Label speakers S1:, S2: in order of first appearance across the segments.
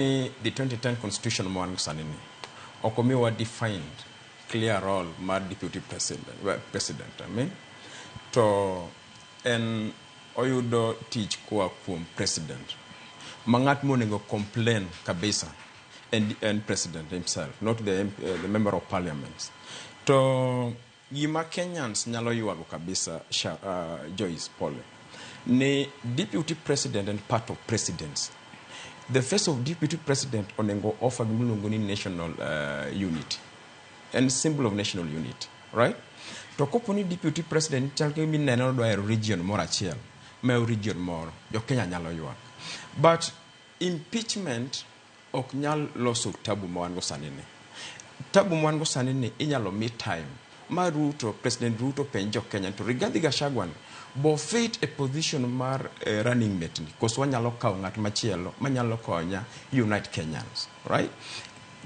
S1: ni the 2010 constitution ma wan sani ni ok omiwa defined clear role mar deputy president, well, president I mean. to en oyudo tich koa kuom president ma ng'at monego complain kabisa en, en president himself not the, MP, uh, the member of parliament to Gima Kenyans nyalo ywago kabisa sha, uh, Joyce pole ni deputy president and part of presidents the face of deputy president onengo offer gimiluongo ni national uh, unity and symbol of national unity right to kopo ni deputy president chal ka mineno dwa hero region moro achiel ma region moro jo Kenya nyalo ywak but impeachment ok nyal loso tabu ma wan go sani ni. Tabu ma wan go sani ni inyalo mi time ma Ruto, President Ruto penj jo Kenya to Rigathi Gachagua ni bo fit e position mar eh, running mate ni koso wanyalo kawo ng'at machielo manyalo konya unite Kenyans, right?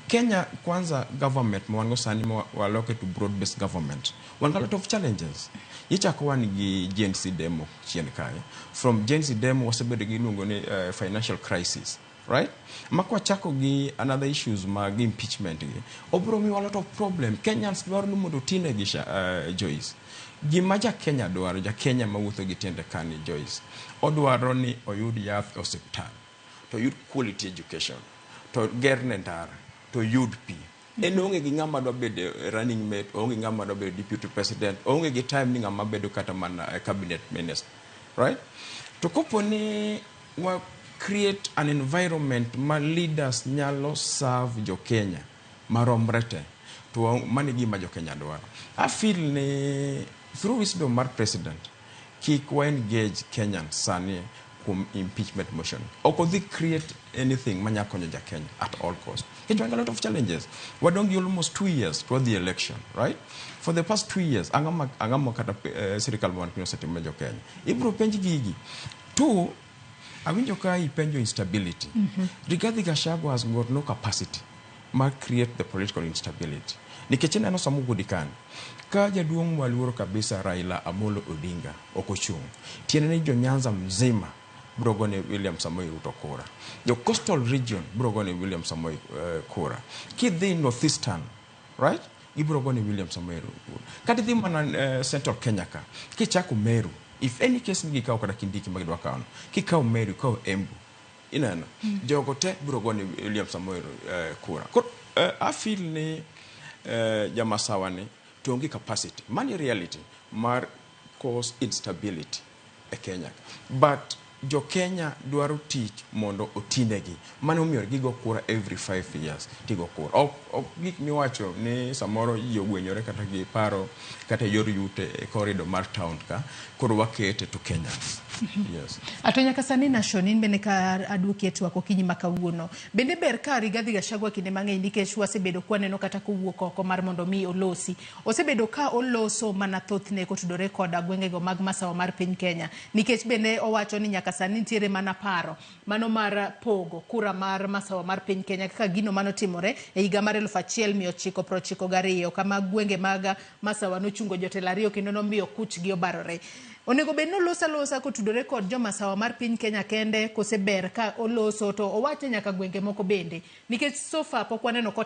S1: Kenya kwanza government ma wan go sani ma waloke to broad based government wan gi a lot of challenges ichako wan gi Gen Z demo chien kae from Gen Z demo wasebedo gi iluongo ni uh, financial crisis Right? Ma kwachako gi another issues mag impeachment gi, obiro miwa a lot of problem. Kenyans dwaro ni mondo otine gi sha, uh, Joyce. Gima ja Kenya dwaro, ja Kenya mawuotho gi tiende kani Joyce, odwaro ni oyud yath e osiptal, to oyud quality education, to gerne ndara, to oyud pi. En oonge gi ng'ama dwa bedo running mate, oonge ng'ama dwa bedo deputy president, oonge gi time ni ng'ama bedo kata mana eh, cabinet minister. Right? To kopo ni wa create an environment ma leaders nyalo serve jo Kenya maromre te to mano e gima jo Kenya dwaro. I feel ni through wisdom mar president Kik wa engage Kenyans sani kuom impeachment motion. Ok odhi create anything manya konyo ja Kenya at all cost. Kech wan a lot of challenges. Wadong gi almost two years to wadhi election, right? For the past two years, ang'ama ang'ama kata eh, sirikal ma wan piny osetimo ne jo Kenya. Ibro penj gigi. Two, Awinjo ka ipenjo instability. Mm -hmm. Rigathi Gachagua has got no capacity mar create the political instability. Nikech ineno sama ogudi kan, ka jaduong' mwaluoro kabisa Raila Amolo Odinga ok ochung', tiende ni jo Nyanza mzima bro gone William Samoei Ruto kura. Jo coastal region bro gone William Samoei uh, kura. Kidhi northeastern right ibiro go ni William Samoei Ruto kata idhi mana eh, Central Kenya ka kichako Meru if any case ni gikawo kata Kindiki ma gidwa kawono kikawo Meru ikawo Embu ineno jogo te biro go ni William Samoei Ru- eh, kura koro eh, I feel ni eh, jamasawa ni to onge capacity mani reality mar cause instability e Kenya ka but jo Kenya dwaro tich mondo otinegi mano omiyo gigo kura every five years tigo kura ok ok gik miwacho ni samoro ji ogwenyore kata gi paro kata e yor yute e corridor mar town ka koro wakete to Kenyans yes Ato nyaka sani
S2: Nashon in bende ka aduoki e twak okinyi ma kawuono. Bende ber ka Rigathi Gachagua kinde mang'eny nikech wasebedo kwaneno kata kowuok oko mar mondo mi olosi Osebedo ka oloso mana thothne kotudore koda gwengego mag masawa mar piny Kenya. Nikech bende owacho ni nyaka sani nitiere mana paro mano mar pogo kura mar masawa mar piny Kenya kaka gino mane otimore e higa mar eluf achiel mia ochiko prochiko gariyo kama gwenge mag masawa nochungo jotelo ariyo kendo nomiyo kuchgi obarore. Onego bed ni oloso alosa kotudore kod jo masawa mar piny Kenya kende kose ber ka oloso to owache nyaka gwenge moko bende nikech so far pok waneno kotimo